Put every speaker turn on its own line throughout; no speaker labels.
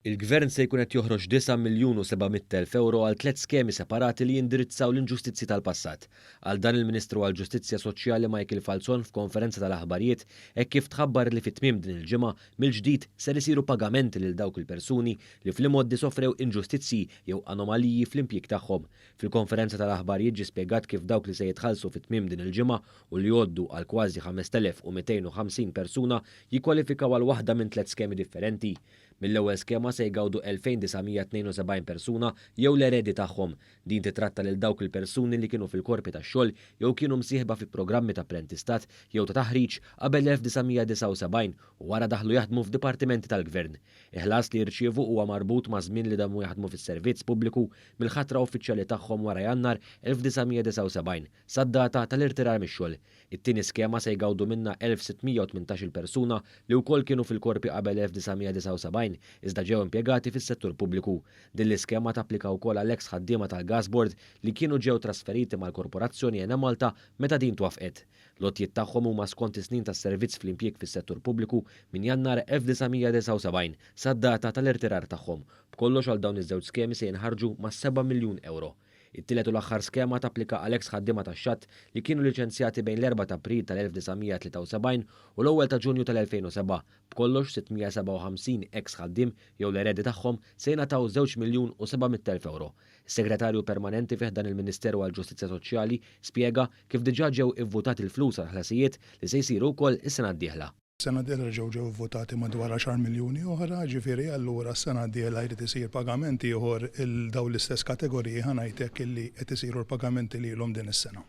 Il-Gvern se jkun qed joħroġ disa' miljun u seba' mitt elf ewro għal tliet skemi separati li jindirizzaw l-inġustizzji tal-passat. Qal dan il-Ministru għall-Ġustizzja Soċjali Michael Falzon f'konferenza tal-aħbarijiet hekk kif tħabbar li fi tmiem din il-ġimgħa mill-ġdid ser isiru pagamenti lil dawk il-persuni li fl-imgħoddi sofrew inġustizzji jew anomaliji fl-impjieg tagħhom Fil-konferenza tal-aħbar jiġi spjegat kif dawk li se jitħallsu fi tmiem din il-ġimgħa u li jgħoddu għal kważi 5,250 persuna jikkwalifikaw għal waħda minn tliet skemi differenti. Mill-ewwel skema se jgawdu 2,972 persuna jew l-eredi tagħhom. Din titratta lil dawk il-persuni li kienu fil-korpi tax-xogħol jew kienu msieħba fi programmi ta' apprentistat jew ta' taħriġ qabel l-1979 u wara daħlu jaħdmu f'dipartimenti tal-gvern. Il-ħlas li jirċievu huwa marbut maż-żmien li damu jaħdmu fis-servizz pubbliku mill-ħatra uffiċjali tagħhom wara Jannar 1979, sad-data tal-irtirar mix-xogħol. It-tieni skema se jgawdu minnha 1,618-il persuna li wkoll kienu fil-Korpi qabel 1979, iżda ġew impjegati fis-settur pubbliku. Din l-iskema tapplika wkoll għall-eks ħaddiema tal-Gas Board li kienu ġew trasferiti mal-Korporazzjoni Enemalta meta din twaffqet. L-għotjiet tagħhom huma skont is-snin ta' servizz fl-impjieg fis-settur pubbliku minn Jannar 1979 sad-data tal-irtirar tagħhom B'kollox għal dawn iż-żewġ skemi se jinħarġu ma' seba' miljun ewro. It-tielet u l-aħħar skema tapplika għal eks ħaddiema tax-xatt li kienu liċenzjati bejn l-Erbgħa ta' April tal-1973 u l-Ewwel ta' Ġunju tal-2007. B'kollox 657 eks ħaddiem jew l-eredi tagħhom se jingħataw żewġ miljun u seba' mitt elf ewro. Is-Segretarju Permanenti fi ħdan il-Ministeru għall-Ġustizzja Soċjali spjega kif diġà ġew ivvutati l-flus għall-ħlasijiet li se jsiru wkoll is-sena d-dieħla. Sena d-dieħla ġew
ġew ivvutati madwar għaxar miljuni oħra, ġifieri allura s-sena d-dieħla jrid isir pagament ieħor 'l dawn l-istess kategoriji ħa ngħid hekk illi qed isiru l-pagamenti lilhom din is-sena.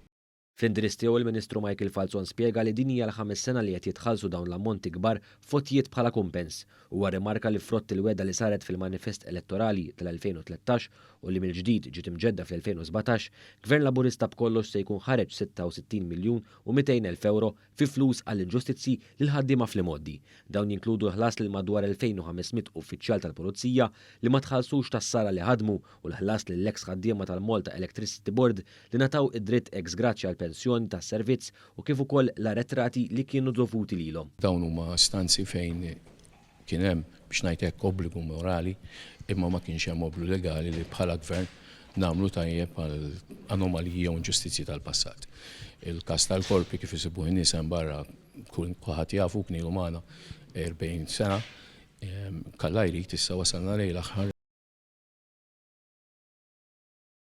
Fl-indirizz tiegħu
il-Ministru Michael Falzon spjega li din hija l-ħames sena li qed jitħallsu dawn l-ammonti kbar f'għotjiet bħala kumpens. Huwa rrimarka li frott il-wegħda li saret fil-manifest elettorali tal-2013 u li mill-ġdid ġiet imġedda fl-2017, Gvern Laburista b'kollox se jkun ħareġ 66 miljun u 200 elf ewro fi flus għall-inġustizzji lill-ħaddiema fl-imgħoddi. Dawn jinkludu l-ħlas lil madwar 2,500 uffiċjal tal-pulizija li ma tħallsux tas-sala li ħadmu u l-ħlas lill-eks ħaddiema tal-Malta Electricity Board li ngħataw id-dritt ex gratia għall-pensjoni tas-servizz u kif ukoll l-arretrati li kienu dovuti lilhom. Dawn huma stanzi
fejn Kien hemm, biex ngħid hekk, obbligu morali, imma ma kienx hemm obbligu legali li bħala Gvern nagħmlu tajjeb għal anomaliji jew inġustizzji tal-passat. Il-każ tal-korpi kif isibuh in-nies hemm barra kulħadd jafu, kien ilu magħna 40 sena, kalla jrid issa wasalna lejn l-aħħar.